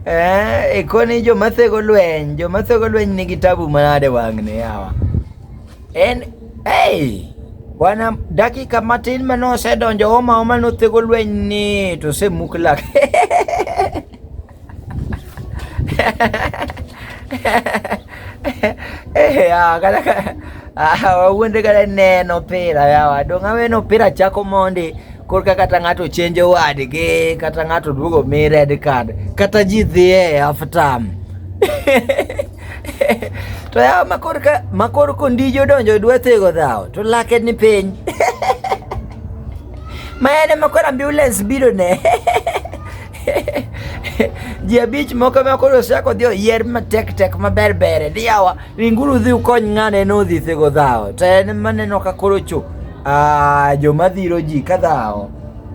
Eh, koni joma thego lweny joma thego lweny nigi tabu manade wang'ne yawa en hey, wana dakika matin mane osedonjo omaoma nothego lweny ni to osemuk lak wawuonde kata neno opira yawa donga weno opira chako mondi korka kata ng'ato chenjo wadgi kata ng'ato duogo mi red card kata ji dhiye aftam to yawa makorka makor kondijo donjo dwa thego dhawo to lake ni piny ma en ema koro ambulance biro ne ji abich moko ma koro osechako odhi oyier matek tek maber bere ni yawa ringuru dhi ukony ng'ane nodhi thego dhawo to en maneno ka koro cho ah, joma dhiro ji ka dhawo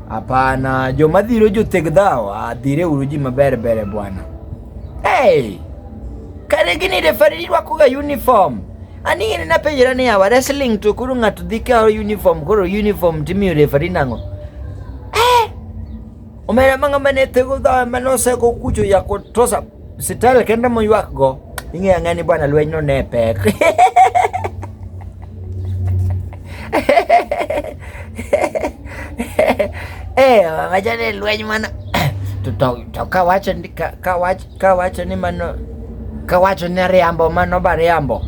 hapana joma dhiro jotheg dhawo ah, dhire uru ji maber bere bwana hey! kare gini refari irwakoga uniform ani in napenjra ni yawa wrestling to koro ng'ato dhi kawo uniform koro uniform timiyo refari nang'o omera manga mane tego dhoe mane oseko kucho yako trosa sitel kende moywak go ing'eya ng'ani bwana lweny no ne pek eh wacha ni lweny mana to to to kawacho ni ka- kawacho kawacho ni mano kawacho ni ariambo mano ba riambo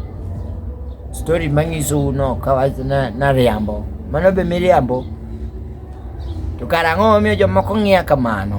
story manyiso uno kawacho na na riambo mano be miriambo To kara ang'o momiyo jomoko ng'iya kamano?